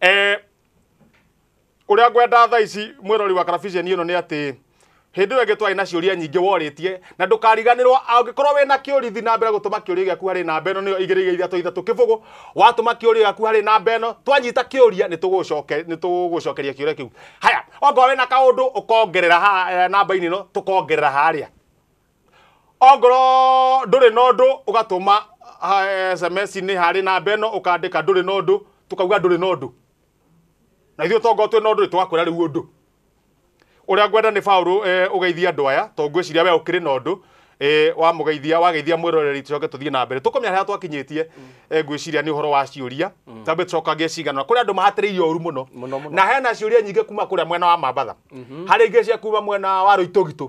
eh, uria ngwenda tha ici mwirori wa karabiceni ino ni ati hindi iyo ingi twari na ciuria nyingi woritie na ndukariganirwo angikorwo wi na kiurithi na mbere gutuma kiuria giaku hari namba ino niyo igiri ithatu ithatu kibugu watuma kiuria giaku hari namba ino twanyita kiuria ni tugucoke ni tugucokeria kiuria kiu haya ongorwo wi na kaundu ukongerera ha eh, namba-ini ino tukongerera haria ongorwo ndũrĩ na ũndũ ũgatũma sms-inĩ harĩ namba ĩno ũkandĩka ndũrĩ na ũndũ tũkauga ndũrĩ na ũndũ na ithuĩ tongorwo twĩ na ũndũ tũgakwĩra rĩu ũndũ ũrĩa ngwenda nĩ baũrũ eh, ũgeithia andũ aya to ngwĩciria we ũkĩrĩ na ũndũ eh, wamũgeithia wageithia mwĩroreri tũcoke tũthiĩ na mbere tũkũmenya harĩa twakinyĩtie eh, ngwĩciria nĩ ũhoro wa ciũria tambe tũcokagie cigana kũrĩ andũ mahatĩrĩirie ũru mũno Mũno, mũno. na hena ciũria nyingĩ kuma kũrĩa mwena wa mambatha harĩ ingĩ cia kuma mwena wa rũitũgitũ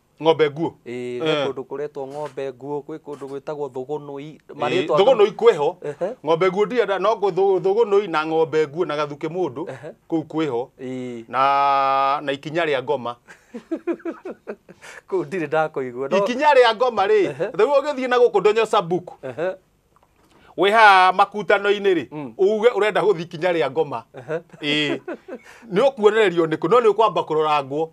ng'ombe nguo Ĩĩ, gwĩ Eh. kũndũ kũretwo ng'ombe nguo gwĩ kũndũ gwĩtagwo thũgũnũi Ĩĩ, thũgũnũi kwĩho Ehe. ng'ombe nguo ndienda no ngũ- thũ- thũgũnũi na ng'ombe nguo na gathuke mũndũ Ehe. kũu kwĩho Ĩĩ, na na ikinya rĩa ngoma kũu ndirĩ ndakũigua no ikinya rĩa ngoma rĩ Ehe. rĩu ũgĩthiĩ na gũkũ ndonyo sabuku Ehe, wĩ haha makutano-inĩ rĩ Mm. uge ũrenda gũthiĩ ikinya rĩa ngoma ehe. ĩĩ nĩ ũkuonererio nĩkũ no nĩ ũkwamba kũrorangwo